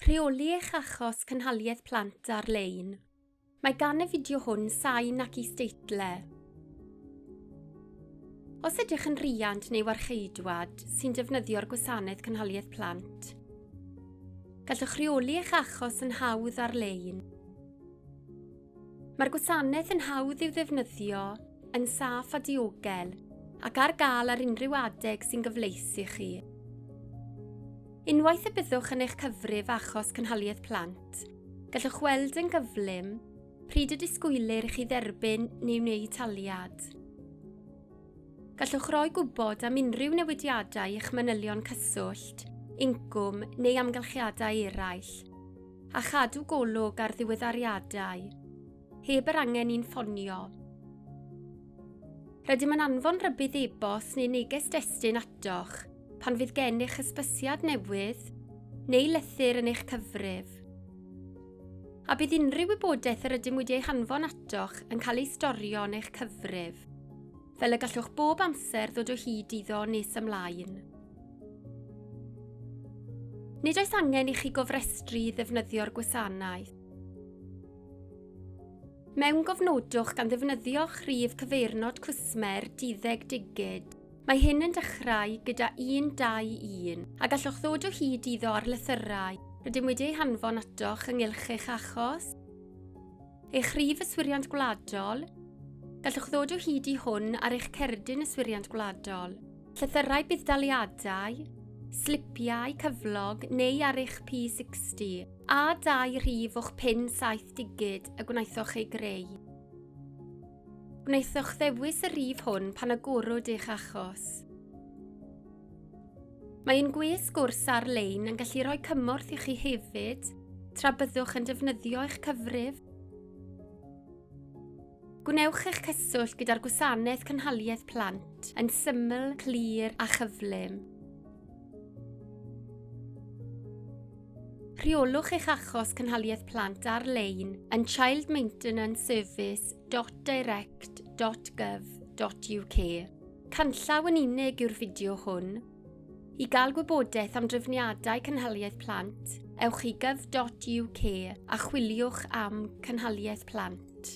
Rheoli eich achos cynhaliaeth plant ar-lein. Mae gan y fideo hwn sain ac isdeitle. Os ydych yn rhiant neu warcheidwad sy'n defnyddio'r gwasanaeth cynhaliaeth plant, gallwch rheoli eich achos yn hawdd ar-lein. Mae'r gwasanaeth yn hawdd i'w ddefnyddio Yn saff a diogel, ac ar gael ar unrhyw adeg sy'n gyfleus i chi. Unwaith y byddwch yn eich cyfrif achos cynhaliaeth plant, gallwch weld yn gyflym pryd y disgwylir i chi dderbyn neu wneud taliad. Gallwch roi gwybod am unrhyw newidiadau i'ch manylion cyswllt, incwm neu amgylchiadau eraill, a chadw golwg ar ddiweddariadau. Heb yr angen i'n ffonio. Rydym yn anfon rybudd e-bost neu neges destun atoch pan fydd gennych hysbysiad newydd neu lythyr yn eich cyfrif. A bydd unrhyw wybodaeth yr ydym wedi ei hanfon atoch yn cael ei storio yn eich cyfrif, fel y gallwch bob amser ddod o hyd iddo nes ymlaen. Nid oes angen i chi gofrestru i ddefnyddio'r gwasanaeth. Mewn gofnodwch gan ddefnyddio'ch rhif cyfeirnod cwsmer duddeg digid. Mae hyn yn dechrau gyda 121 a gallwch ddod o hyd iddo ar lythyrau rydym wedi eu hanfon atoch ynghylch eich achos, eich rhif yswiriant gwladol, gallwch ddod o hyd i hwn ar eich cerdyn yswiriant gwladol. Llythyrau budd-daliadau, slipiau cyflog neu ar eich P60, a dau rhif o'ch pin saith digid y gwnaethoch ei greu. Gwnaethoch ddewis y rhif hwn pan agorwyd eich achos. Mae ein gwes gwrs ar-lein yn gallu rhoi cymorth i chi hefyd tra byddwch yn defnyddio eich cyfrif. Gwnewch eich cyswllt gyda'r Gwasanaeth Cynhaliaeth Plant yn syml, clir a chyflym. Rheolwch eich achos cynhaliaeth plant ar-lein yn childmaintenanceservice.direct.gov.uk. Canllaw yn unig yw'r fideo hwn, I gael gwybodaeth am drefniadau cynhaliaeth plant, ewch i gov.uk a chwiliwch am cynhaliaeth plant.